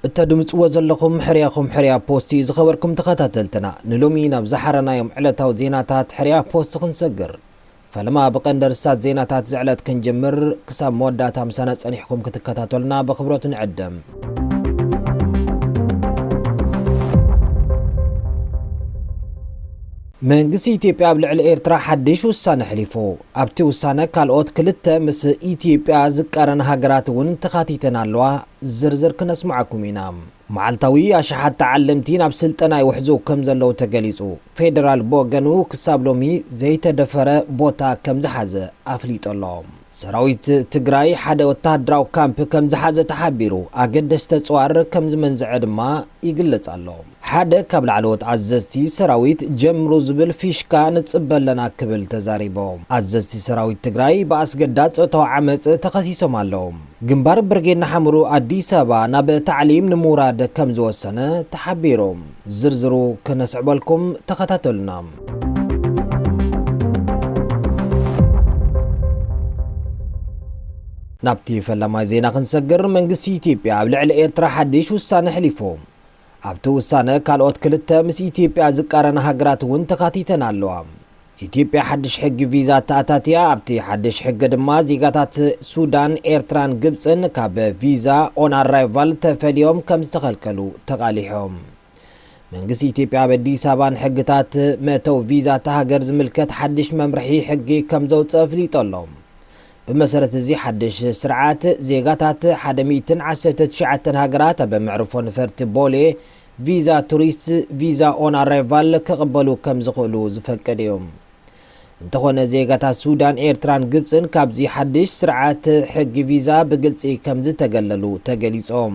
እተድምጽዎ ዘለኹም ሕርያኹም ሕርያ ፖስት እዩ። ዝኸበርኩም ተኸታተልትና ንሎሚ ናብ ዝሓረናዮም ዕለታዊ ዜናታት ሕርያ ፖስት ክንሰግር። ፈለማ ብቀንዲ ኣርስትታት ዜናታት ዝዕለት ክንጅምር ክሳብ መወዳእታ ምሳና ጸኒሕኩም ክትከታተሉና በክብሮት ንዕድም። መንግስቲ ኢትዮጵያ ኣብ ልዕሊ ኤርትራ ሓድሽ ውሳነ ኣሕሊፉ። ኣብቲ ውሳነ ካልኦት ክልተ ምስ ኢትዮጵያ ዝቃረና ሃገራት እውን ተኻቲተን ኣለዋ። ዝርዝር ክነስምዓኩም ኢና። መዓልታዊ ኣሽሓት ተዓለምቲ ናብ ስልጠና ይውሕዙ ከምዘለዉ ተገሊፁ። ፌደራል ብወገኑ ክሳብ ሎሚ ዘይተደፈረ ቦታ ከምዝሓዘ ኣፍሊጡ ኣሎ። ሰራዊት ትግራይ ሓደ ወተሃደራዊ ካምፕ ከምዝሓዘ ተሓቢሩ፣ ኣገደስቲ ኣፅዋር ከምዝመንዘዐ ድማ ይግለፅ ኣሎ። ሓደ ካብ ላዕለዎት ኣዘዝቲ ሰራዊት ጀምሩ ዝብል ፊሽካ ንፅበ ኣለና ክብል ተዛሪቦ። ኣዘዝቲ ሰራዊት ትግራይ ብኣስገዳድ ፆታዊ ዓመፅ ተኸሲሶም ኣለዉ። ግንባር ብርጌድ ንሓመዱ ኣዲስ ኣበባ ናብ ታዕሊም ንምውራድ ከምዝወሰነ ተሓቢሩ። ዝርዝሩ ክነስዕበልኩም ተኸታተሉና። ናብቲ ፈላማይ ዜና ክንሰግር መንግስቲ ኢትዮጵያ ኣብ ልዕሊ ኤርትራ ሓድሽ ውሳነ ኣሕሊፉ። ኣብቲ ውሳነ ካልኦት ክልተ ምስ ኢትዮጵያ ዝቃረና ሃገራት እውን ተኻቲተን ኣለዋ። ኢትዮጵያ ሓድሽ ሕጊ ቪዛ ተኣታትያ፣ ኣብቲ ሓድሽ ሕገ ድማ ዜጋታት ሱዳን፣ ኤርትራን ግብጽን ካብ ቪዛ ኦን ኣራይቫል ተፈልዮም ከም ዝተኸልከሉ ተቓሊሖም። መንግስቲ ኢትዮጵያ ኣብ ኣዲስ ኣበባ ንሕግታት መእተዊ ቪዛ እታ ሃገር ዝምልከት ሓድሽ መምርሒ ሕጊ ከም ዘውጽኣ ኣፍሊጡ ኣሎ። ብመሰረት እዚ ሓድሽ ስርዓት፣ ዜጋታት ሓደ ሚእትን ዓሰርተ ትሽዓተን ሃገራት ኣብ መዕርፎ ነፈርቲ ቦሌ ቪዛ ቱሪስት፣ Visa on Arrival፣ ክቕበሉ ከምዝኽእሉ ዝፈቅድ እዩ። እንተኾነ ዜጋታት ሱዳን፣ ኤርትራን ግብጽን ካብዚ ሓድሽ ስርዓት ሕጊ ቪዛ ብግልጺ ከምዝተገለሉ ተገሊጾም።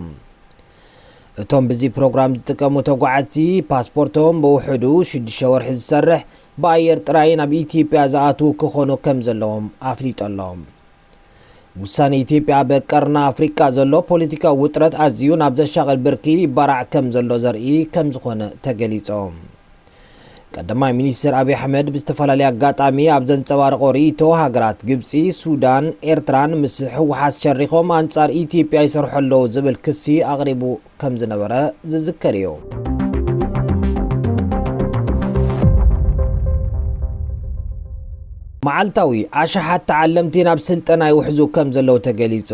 እቶም ብዚ ፕሮግራም ዝጥቀሙ ተጓዓዝቲ፣ ፓስፖርቶም ብውሕዱ ሽዱሽተ ወርሒ ዝሰርሕ ብኣየር ጥራይ ናብ ኢትዮጵያ ዝኣትዉ ክኾኑ ከም ዘለዎም ኣፍሊጡ ኣሎ። ውሳነ ኢትዮጵያ ኣብ ቀርኒ ኣፍሪቃ ዘሎ ፖለቲካዊ ውጥረት ኣዝዩ ናብ ዘሻቕል ብርኪ ይባራዕ ከም ዘሎ ዘርኢ ከም ዝኾነ ተገሊጾ። ቀዳማይ ሚኒስትር ኣብይ ኣሕመድ ብዝተፈላለየ ኣጋጣሚ ኣብ ዘንጸባረቖ ርእይቶ ሃገራት ግብጺ፣ ሱዳን፣ ኤርትራን ምስ ህወሓት ሸሪኾም ኣንጻር ኢትዮጵያ ይሰርሑ ኣለዉ ዝብል ክሲ ኣቕሪቡ። ከም ዝነበረ ዝዝከር እዩ። መዓልታዊ ኣሽሓት ተዓለምቲ ናብ ስልጠና ይውሕዙ ከም ዘለዉ ተገሊጹ።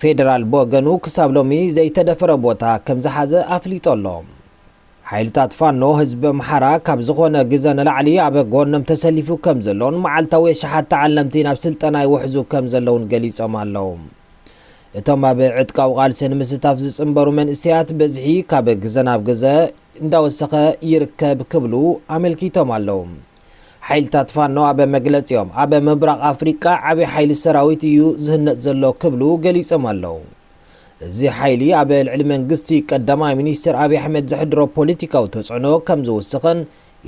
ፌደራል ብወገኑ ክሳብ ሎሚ ዘይተደፈረ ቦታ ከም ዝሓዘ ኣፍሊጡ ኣሎ። ሓይልታት ፋኖ ህዝቢ ኣምሓራ ካብ ዝኾነ ግዘ ንላዕሊ ኣብ ጎኖም ተሰሊፉ ከም ዘሎን መዓልታዊ ኣሽሓት ተዓለምቲ ናብ ስልጠና ይውሕዙ ከም ዘለዉን ገሊጾም ኣለዉ። እቶም ኣብ ዕጥቃዊ ቃልሲ ንምስታፍ ዝጽንበሩ መንእሰያት ብዝሒ ካብ ግዘ ናብ ግዘ እንዳወሰኸ ይርከብ ክብሉ ኣመልኪቶም ኣለው። ሓይልታት ፋኖ ኣብ መግለጺኦም፣ ኣብ ምብራቕ ኣፍሪቃ ዓቢ ሓይሊ ሰራዊት እዩ ዝህነጽ ዘሎ ክብሉ ገሊጾም ኣለው። እዚ ሓይሊ ኣብ ልዕሊ መንግስቲ ቀዳማይ ሚኒስተር ኣብይ ኣሕመድ ዘሕድሮ ፖለቲካዊ ተጽዕኖ ከም ዝውስኽን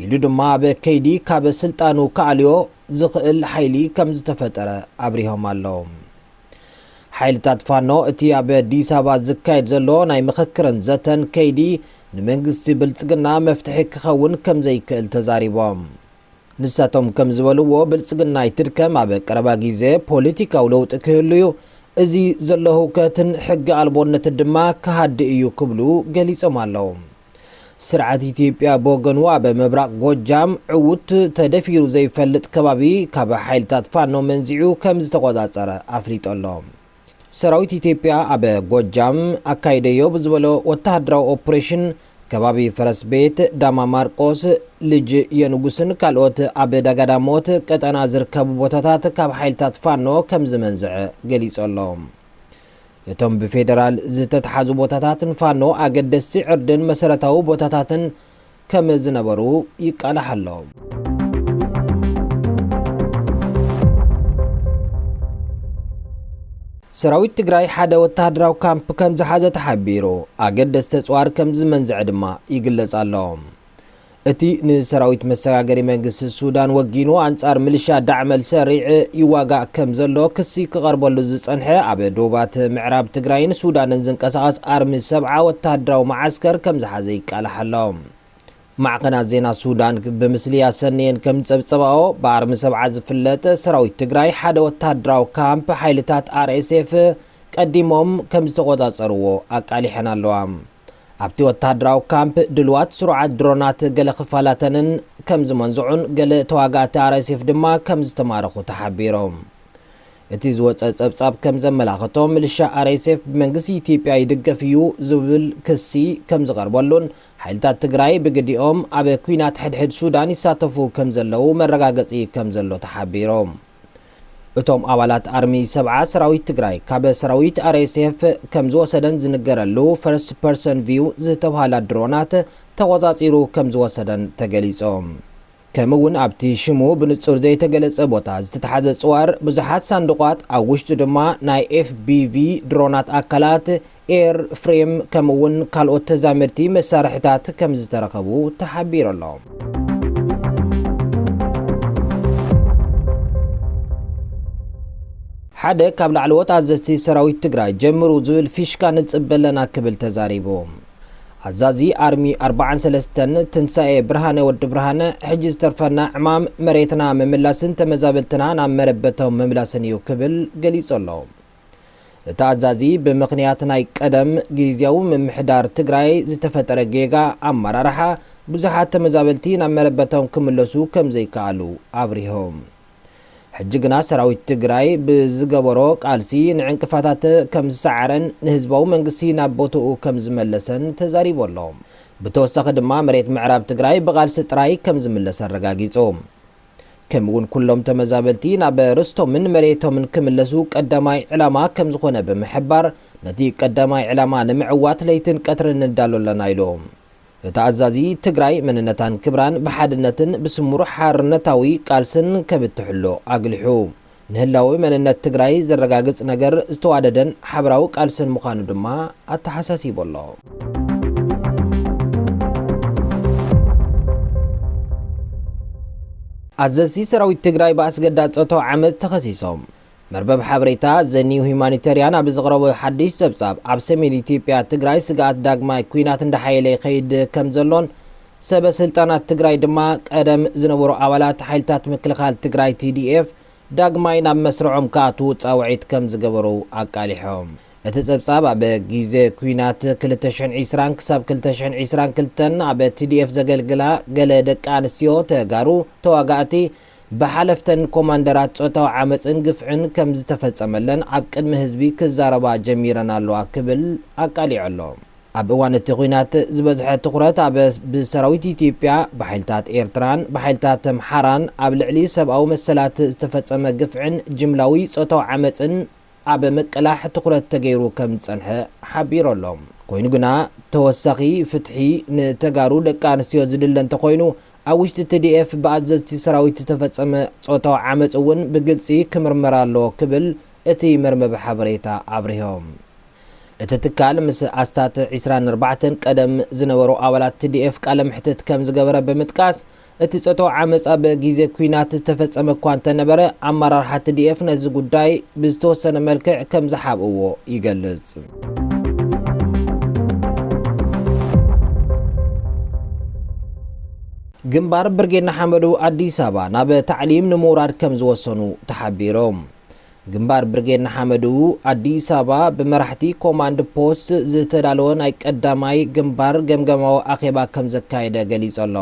ኢሉ ድማ ኣብ ከይዲ ካብ ስልጣኑ ክኣልዮ ዝኽእል ሓይሊ ከም ዝተፈጠረ ኣብሪሆም ኣለው። ሓይልታት ፋኖ እቲ ኣብ ኣዲስ ኣበባ ዝካየድ ዘሎ ናይ ምኽክርን ዘተን ከይዲ ንመንግስቲ ብልፅግና መፍትሒ ክኸውን ከምዘይክእል ተዛሪቦም። ንሳቶም ከምዝበልዎ ብልፅግና ኣይትድከም ኣብ ቀረባ ጊዘ ፖሊቲካዊ ለውጢ ክህሉ እዩ፣ እዚ ዘሎ ህውከትን ሕጊ ኣልቦነትን ድማ ክሃድእ እዩ ክብሉ ገሊፆም ኣለው። ስርዓት ኢትዮጵያ ብወገኑ ኣብ ምብራቕ ጎጃም ዕዉት ተደፊሩ ዘይፈልጥ ከባቢ ካብ ሓይልታት ፋኖ መንዚዑ ከምዝተቖፃፀረ ኣፍሊጡ ኣሎ። ሰራዊት ኢትዮጵያ ኣብ ጎጃም ኣካይደዮ ብዝበሎ ወተሃደራዊ ኦፕሬሽን ከባቢ ፈረስ ቤት፣ ዳማ ማርቆስ፣ ልጅ የንጉስን ካልኦት ኣብ ዳጋዳሞት ቀጠና ዝርከቡ ቦታታት ካብ ሓይልታት ፋኖ ከምዝመንዘዐ ገሊፁ ኣሎ። እቶም ብፌደራል ዝተትሓዙ ቦታታት ንፋኖ ኣገደስቲ ዕርድን መሰረታዊ ቦታታትን ከም ዝነበሩ ይቃላሕ ኣሎ። ሰራዊት ትግራይ ሓደ ወተሃደራዊ ካምፕ ከም ዝሓዘ ተሓቢሩ፣ ኣገደስቲ ኣጽዋር ከም ዝመንዝዐ ድማ ይግለጽ ኣሎ። እቲ ንሰራዊት መሰጋገሪ መንግስቲ ሱዳን ወጊኑ ኣንጻር ምልሻ ዳዕመል ሰሪዕ ይዋጋእ ከምዘሎ ክሲ ክቐርበሉ ዝጸንሐ ኣብ ዶባት ምዕራብ ትግራይን ሱዳንን ዝንቀሳቐስ ኣርሚ ሰብዓ ወተሃደራዊ መዓስከር ከምዝሓዘ ይቃላሕ ኣሎ። ማዕኸናት ዜና ሱዳን ብምስሊ ኣሰንየን ከምዝጸብጸባኦ ብኣርሚ ሰብዓ ዝፍለጥ ሰራዊት ትግራይ ሓደ ወተሃደራዊ ካምፕ ሓይልታት RSF ቀዲሞም ከምዝተቖጻጸርዎ ኣቃሊሐን ኣለዋ። ኣብቲ ወተሃደራዊ ካምፕ ድሉዋት ስሩዓት ድሮናት ገለ ክፋላተንን ከምዝመንዝዑን ገለ ተዋጋእቲ RSF ድማ ከምዝተማረኹ ተሓቢሩ። እቲ ዝወጸ ጸብጻብ ከምዘመላኽቶ ምልሻ RSF ብመንግስቲ ኢትዮጵያ ይድገፍ እዩ ዝብል ክሲ ከምዝቐርበሉን ሓይልታት ትግራይ ብግዲኦም ኣብ ኲናት ሕድሕድ ሱዳን ይሳተፉ ከምዘለዉ መረጋገጺ ከምዘሎ ተሓቢሩ። እቶም ኣባላት ኣርሚ ሰብዓ ሰራዊት ትግራይ ካብ ሰራዊት RSF ከም ዝወሰደን ዝንገረሉ ፈርስት ፐርሰን ቪው ዝተብሃላ ድሮናት ተቖፃፂሩ ከም ዝወሰደን ተገሊፆ። ከም እውን ኣብቲ ሽሙ ብንፁር ዘይተገለፀ ቦታ ዝተትሓዘ ፅዋር ብዙሓት ሳንዱቓት ኣብ ውሽጡ ድማ ናይ FPV ድሮናት ኣካላት፣ ኤር ፍሬም ከምኡ ውን ካልኦት ተዛመድቲ መሳርሕታት ከምዝተረኸቡ ተሓቢሩ ኣሎ። ሓደ ካብ ላዕለዎት ኣዘዝቲ ሰራዊት ትግራይ ጀምሩ ዝብል ፊሽካ ንፅበ ኣለና ክብል ተዛሪቡ። ኣዛዚ ኣርሚ ኣርብዓን ሰለስተን ትንሳኤ ብርሃነ ወዲ ብርሃነ ሕጂ ዝተርፈና ዕማም መሬትና ምምላስን ተመዛበልትና ናብ መረበቶም ምምላስን እዩ ክብል ገሊፁ ኣሎ። እቲ ኣዛዚ ብምኽንያት ናይ ቀደም ጊዚያዊ ምምሕዳር ትግራይ ዝተፈጠረ ጌጋ ኣመራርሓ ብዙሓት ተመዛበልቲ ናብ መረበቶም ክምለሱ ከምዘይከኣሉ ኣብሪሆም። ሕጂ ግና ሰራዊት ትግራይ ብዝገበሮ ቃልሲ ንዕንቅፋታት ከምዝሰዓረን ንህዝባዊ መንግስቲ ናብ ቦትኡ ከምዝመለሰን ተዛሪቡ ኣሎ። ብተወሳኺ ድማ መሬት ምዕራብ ትግራይ ብቓልሲ ጥራይ ከምዝምለስ ኣረጋጊጹ። ከምኡ እውን ኩሎም ተመዛበልቲ ናብ ርስቶምን መሬቶምን ክምለሱ ቀዳማይ ዕላማ ከምዝኾነ ብምሕባር ነቲ ቀዳማይ ዕላማ ንምዕዋት ለይትን ቀትርን ንዳሎ ኣለና ኢሉ። እቲ ኣዛዚ ትግራይ መንነታን ክብራን ብሓድነትን ብስሙር ሓርነታዊ ቃልስን ከብትሕሉ ኣጉሊሑ ንህላወ መንነት ትግራይ ዘረጋግፅ ነገር ዝተዋደደን ሓበራዊ ቃልስን ምዃኑ ድማ ኣተሓሳሲቡ ኣሎ። ኣዘዝቲ ሰራዊት ትግራይ ብኣስገዳድ ፆታዊ ዓመፅ ተኸሲሶም። መርበብ ሓበሬታ ዘ ኒው ሂዩማኒተርያን ኣብ ዘቕረቦ ሓድሽ ፀብፃብ፣ ኣብ ሰሜን ኢትዮጵያ ትግራይ ስግኣት ዳግማይ ኲናት እንዳሓየለ ይኸይድ ከምዘሎን ሰበ ስልጣናት ትግራይ ድማ ቀደም ዝነበሩ ኣባላት ሓይልታት ምክልኻል ትግራይ፣ TDF፣ ዳግማይ ናብ መስርዖም ክኣትዉ ፃውዒት ከምዝገበሩ ኣቃሊሖም። እቲ ፀብፃብ ኣብ ግዜ ኲናት ክልተ ሽሕን ዕስራን ክሳብ ክልተ ሽሕን ዕስራን ክልተን ኣብ TDF ዘገልግላ ገለ ደቂ ኣንስትዮ ተጋሩ ተዋጋእቲ፣ ብሓለፍተን ኮማንደራት ጾታዊ ዓመጽን ግፍዕን ከም ዝተፈጸመለን ኣብ ቅድሚ ህዝቢ ክዛረባ ጀሚረን ኣለዋ ክብል ኣቃሊዑ ኣሎ። ኣብ እዋን እቲ ኲናት ዝበዝሐ ትኹረት ኣብ ብሰራዊት ኢትዮጵያ፣ ብሓይልታት ኤርትራን ብሓይልታት ኣምሓራን ኣብ ልዕሊ ሰብኣዊ መሰላት ዝተፈጸመ ግፍዕን ጅምላዊ ጾታዊ ዓመጽን ኣብ ምቅላሕ ትኹረት ተገይሩ ከም ዝጸንሐ ሓቢሩ ኣሎ። ኮይኑ ግና ተወሳኺ ፍትሒ ንተጋሩ ደቂ ኣንስትዮ ዝድለ እንተኾይኑ ኣብ ውሽጢ ትዲኤፍ ብኣዘዝቲ ሰራዊት ዝተፈፀመ ፆታዊ ዓመፅ እውን ብግልፂ ክምርመር ኣለዎ ክብል እቲ መርመቢ ሓበሬታ ኣብሪሆም። እቲ ትካል ምስ ኣስታት ዕስራን ኣርባዕተን ቀደም ዝነበሩ ኣባላት ትዲኤፍ ቃለ መሕትት ከም ዝገበረ ብምጥቃስ እቲ ፆታዊ ዓመፅ ኣብ ጊዜ ኲናት ዝተፈፀመ እኳ እንተነበረ ኣመራርሓ ትዲኤፍ ነዚ ጉዳይ ብዝተወሰነ መልክዕ ከም ዝሓብእዎ ይገልፅ። ግንባር ብርጌድ ንሓመዱ ኣዲስ ኣበባ ናብ ታዕሊም ንምውራድ ከም ዝወሰኑ ተሓቢሩ። ግንባር ብርጌድ ንሓመዱ ኣዲስ ኣበባ ብመራሕቲ ኮማንድ ፖስት ዝተዳለወ ናይ ቀዳማይ ግንባር ገምገማዊ ኣኼባ ከም ዘካየደ ገሊጹ ኣሎ።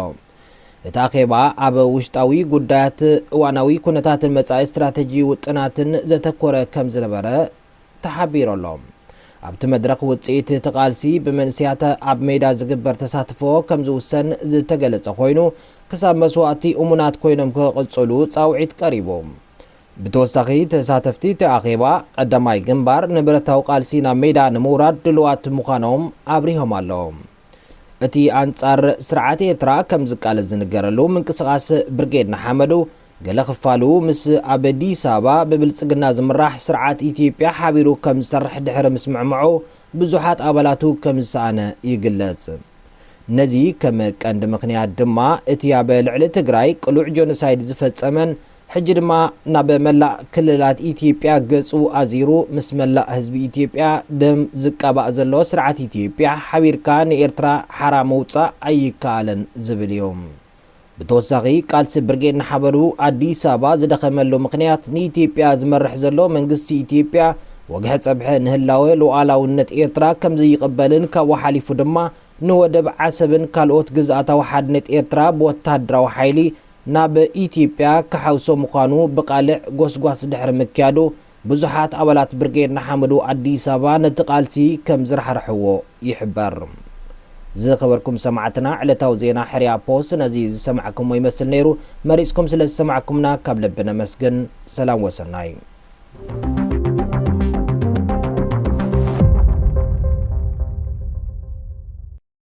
እቲ ኣኼባ ኣብ ውሽጣዊ ጉዳያት፣ እዋናዊ ኩነታትን መጻኢ ስትራተጂ ውጥናትን ዘተኮረ ከም ዝነበረ ተሓቢሩ ኣሎ። ኣብቲ መድረኽ ውፅኢት እቲ ቃልሲ ብመንእሰያት ኣብ ሜዳ ዝግበር ተሳትፎ ከምዝውሰን ዝተገለፀ ኮይኑ ክሳብ መስዋእቲ እሙናት ኮይኖም ክቕፅሉ ፃውዒት ቀሪቡ። ብተወሳኺ ተሳተፍቲ እቲ ኣኼባ ቀዳማይ ግንባር ንብረታዊ ቃልሲ ናብ ሜዳ ንምውራድ ድሉዋት ምዃኖም ኣብሪሆም ኣለው። እቲ ኣንፃር ስርዓት ኤርትራ ከምዝቃለስ ዝንገረሉ ምንቅስቓስ ብርጌድ ንሓመዱ፣ ገለ ክፋሉ ምስ ኣብ ኣዲስ ኣበባ ብብልጽግና ዝምራሕ ስርዓት ኢትዮጵያ ሓቢሩ ከም ዝሰርሕ ድሕሪ ምስምዕምዑ ብዙሓት ኣባላቱ ከም ዝሰኣነ ይግለጽ። ነዚ ከም ቀንዲ ምኽንያት ድማ እቲ ኣብ ልዕሊ ትግራይ ቅሉዕ ጆኖሳይድ ዝፈጸመን ሕጂ ድማ ናብ መላእ ክልላት ኢትዮጵያ ገጹ ኣዚሩ ምስ መላእ ህዝቢ ኢትዮጵያ ደም ዝቃባእ ዘሎ ስርዓት ኢትዮጵያ ሓቢርካ ንኤርትራ ሓራ ምውጻእ ኣይከኣልን ዝብል እዩ። ብተወሳኺ ቃልሲ ብርጌድ ንሓመዱ ኣዲስ ኣበባ ዝደኸመሉ ምኽንያት ንኢትዮጵያ ዝመርሕ ዘሎ መንግስቲ ኢትዮጵያ ወግሐ ፀብሐ ንህላወ ሉኣላዊነት ኤርትራ ከምዘይቕበልን ካብኡ ሓሊፉ ድማ ንወደብ ዓሰብን ካልኦት ግዝኣታዊ ሓድነት ኤርትራ ብወተሃደራዊ ሓይሊ ናብ ኢትዮጵያ ክሓውሶ ምዃኑ ብቃልዕ ጎስጓስ ድሕሪ ምክያዱ ብዙሓት ኣባላት ብርጌድ ንሓመዱ ኣዲስ ኣበባ ነቲ ቃልሲ ከም ዝራሕርሕዎ ይሕበር። ዝኸበርኩም ሰማዕትና ዕለታዊ ዜና ሕርያ ፖስት ነዚ ዝሰማዕኩሞ ይመስል ነይሩ። መሪጽኩም ስለ ዝሰማዕኩምና ካብ ልቢ ነመስግን። ሰላም ወሰናይ።